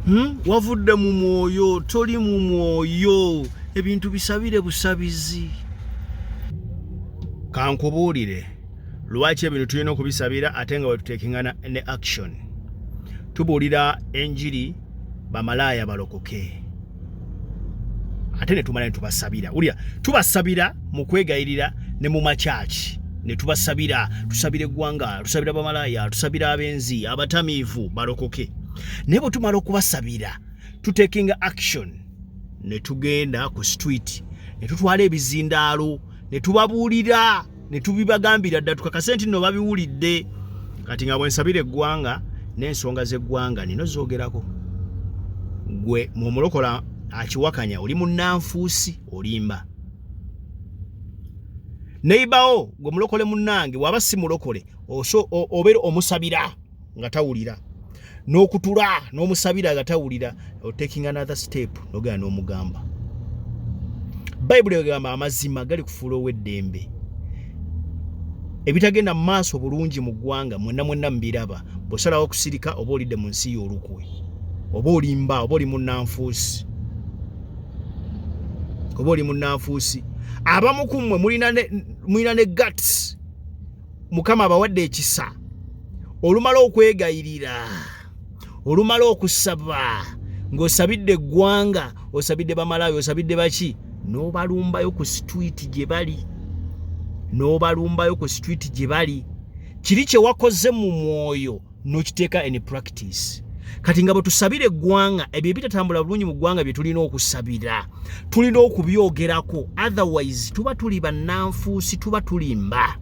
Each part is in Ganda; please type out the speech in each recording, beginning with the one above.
Hmm? wavudde mu mwoyo toli mu mwoyo ebintu bisabire busabizi kankubuulire lwaki ebintu tulina okubisabira ate nga wetuteekingana ne action tubuulira enjiri bamalaaya balokoke ate ne tumala ne tubasabira wulira tubasabira mu kwegayirira ne mu makyaki ne tubasabira tusabira eggwanga tusabira bamalaaya tusabira abenzi abatamiivu balokoke naye bwe tumala okubasabira tutekinga action ne tugenda ku street ne tutwala ebizindaalo ne tubabuulira ne tubibagambira dda tukakase nti nno babiwulidde kati nga bwensabira eggwanga n'ensonga z'eggwanga nino zoogerako gwe mwomulokola akiwakanya oli munnanfuusi olimba neibawo gwe mulokole munnange waba si mulokole obeera omusabira nga tawulira n'okutula n'omusabira nga tawulira otaking another step nogera n'omugamba bayibuli egamba amazima gali kufuula ow'eddembe ebitagenda mu maaso bulungi mu ggwanga mwenna mwenna mubiraba bwosalawo okusirika oba olidde mu nsi y'olukwe oba olimba oba oli munanfuusi oba oli munanfuusi abamu ku mmwe mulina ne gats mukama abawadde ekisa olumala okwegayirira olumala okusaba ng'osabidde eggwanga osabidde bamalawi osabidde baki n'obalumbayo ku situiti gye bali n'obalumbayo ku situiti gye bali kiri kye wakoze mu mwoyo nokiteeka in practice kati nga bwetusabira eggwanga ebyo ebitatambula bulungi mu ggwanga bye tulina okusabira tulina okubyogerako otherwise tuba tuli bannanfuusi tuba tulimba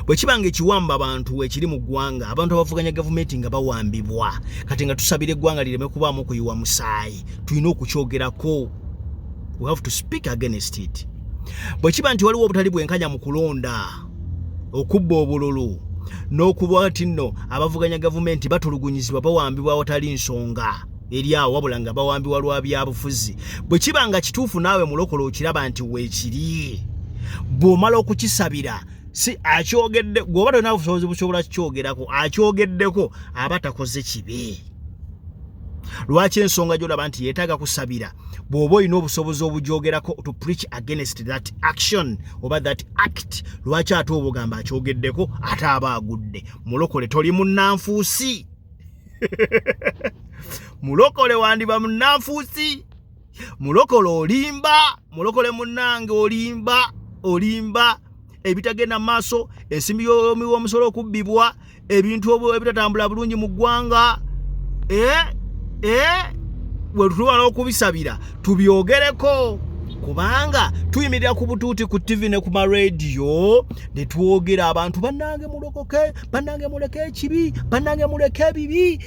bwe kiba nga ekiwamba abantu ekiri mu ggwanga abantu abavuganya gavumenti nga bawambibwa kati nga tusabira eggwanga lireme kubaamu okuyiwa musaayi tulina okukyogerako we have to speak against it bwe kiba nti waliwo obutali bwenkanya mu kulonda okubba obululu n'okuba nti nno abavuganya gavumenti batulugunyizibwa bawambibwa awatali nsonga eri awo wabula nga bawambibwa lwa byabufuzi bwe kiba nga kituufu naawe mulokola okiraba nti weekiri bw'omala okukisabira si akyogedde gweoba tolina busobozi busobola kukyogerako akyogeddeko aba takoze kibi lwaki ensonga gyolaba nti yetaaga kusabira bw'oba olina obusobozi obugyogerako to preach against that action oba that act lwaki ate obugamba akyogeddeko ate aba agudde mulokole toli munnanfuusi mulokole wandiba munnanfuusi mulokole olimba mulokole munange olimba olimba ebitagenda maaso ensimbi yomi womusolo okubbibwa ebintu ebitatambula bulungi mu ggwanga eh, eh, wetutubala okubisabira tubyogereko kubanga tuyimirira ku butuuti ku ttivi ne ku marediyo ne twogera abantu bannange mulokoke bannange muleke ekibi bannange muleke ebibi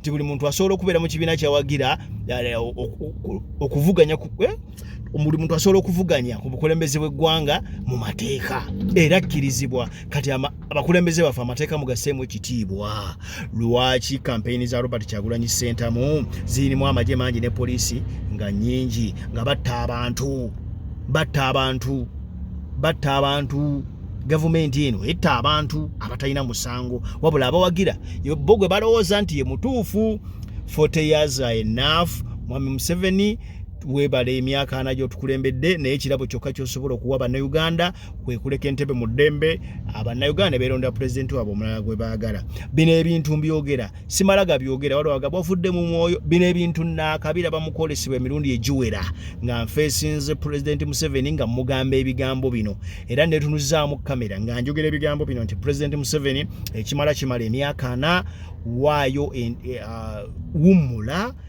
nti buli muntu asobola okubeera mu kibiina kyawagira eh, okuvuganya eh, buli muntu asobola okuvuganya ku bukulembeze bw'eggwanga mu mateeka era akkirizibwa kati abakulembeze baffe amateeka mugaseemu ekitiibwa lwaki kampeyini za robert kyagulanyi sentamu zirimu amagye mangi ne poliisi nga nyingi nga batta abantu batta abantu batta abantu gavumenti eno etta abantu abatalina musango wabula abawagira bo gwe balowooza nti ye mutuufu 40 years are enough mwami museveni webale emyaka ana gyotukulembedde naye ekirabo kyokka kyosobola okuwa bannauganda kwekuleka entebe mu ddembe abannauganda beerondera pulezidenti waabwe omulala gwe baagala bino ebintu mbyogera simala gabyogera waliwo agamba ofudde mu mwoyo bino ebintu naakabira bamukwolesebwa emirundi egiwera nga nfeesinze pulezidenti museveni nga mugamba ebigambo bino era netunuzaamu kamera nga njogera ebigambo bino nti pulezidenti museveni ekimala kimala emyaka ana waayo eh, ah, wummula uh,